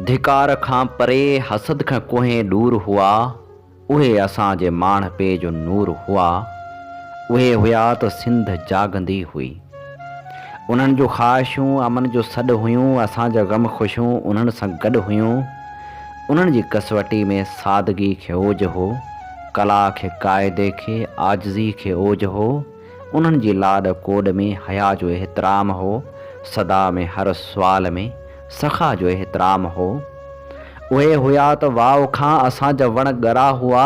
ڌڪار کان پري حسد کان ڪوهين ڏور هئا اهي اسان جي ماڻهپي جو نور هئا اهي هيا ته سنڌ جاڳندي هئي انهن جون خواهشون امن جو سڏ هيون اسان جا غم خوشيون انهن سان گڏ هيون انهن جي ڪسوٽي ۾ سادگي کي اوج هو ڪلا کي قاعدي کي عاجزي کي اوج هو. انهن جي لاڏ ڪوڏ ۾ حيا جو احترام هو، صدا ۾ هر سوال ۾ سخا جو احترام هو. اهي هيا ته واء کان اسان جا وڻ ڳرا هئا،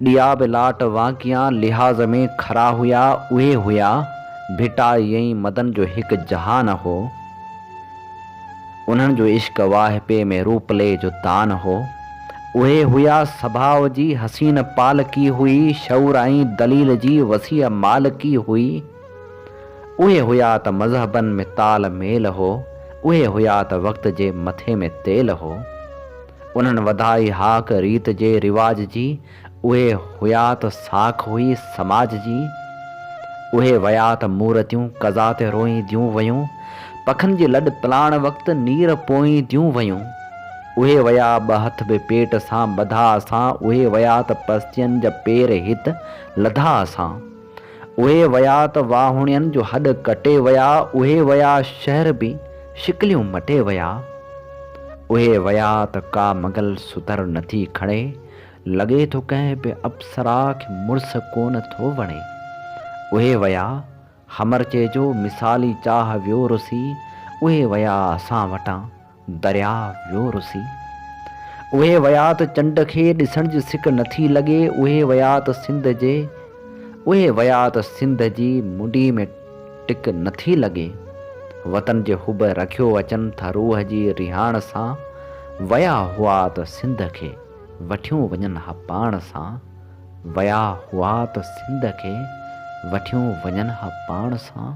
ڏيا به لاٽ وانگيان لحاظ ۾ کرا هيا، اهي هيا، ڀٽائي ۽ مدن جو هڪ جهان هو. انهن جو عشق واهپي ۾ روپلي جو تان هو. اهي هيا سڀاء جي حسين پالڪي هئي، شعور ۽ دليل جي وسيع مالڪي هئي. اهي هيا ته مذهبن ۾ تال ميل هو، اهي هيا ته وقت جي مٿي ۾ تيل هو. انهن وڌائي هاڪ ريت جي رواج جي. اهي هيا ته ساک هئي سماج جي، اهي ويا ته مورتيون قضا تي روئين ديون ويون، پکن جي لڏ پلاڻ وقت نير پوئين ديون ويون، اهي ويا ٻه هٿ به پيٽ سان ٻڌا اسان، اهي ويا ته پستين جا پير هت لڌا اسان، اهي ويا ته واهوڻين جو هڏ ڪٽي ويا، اهي ويا شهر به شڪليون مٽي ويا، اهي ويا ته ڪا مغل ستر نٿي کڻي، لڳي ٿو ڪنهن به اپسرا کي مڙس ڪونه ٿو وڻي. اهي ويا، حمر چئجو، مثالي چاهه ويو رسي، اهي ويا اسان وٽان، درياء ويو رسي. اهي ويا ته چنڊ کي ڏسڻ جي سڪ نه ٿي لڳي، اهي ويا ته سنڌ جي، اهي ويا ته سنڌ جي منڊي ۾ ٽڪ نه ٿي لڳي. وطن جي حب رکيو اچن ٿا روح جي رهاڻ سان، ويا هئا ته سنڌ کي. وٺيون وڃن ها پاڻ سان، ويا هئا ته سنڌ کي وٺيون وڃن ها پاڻ سان.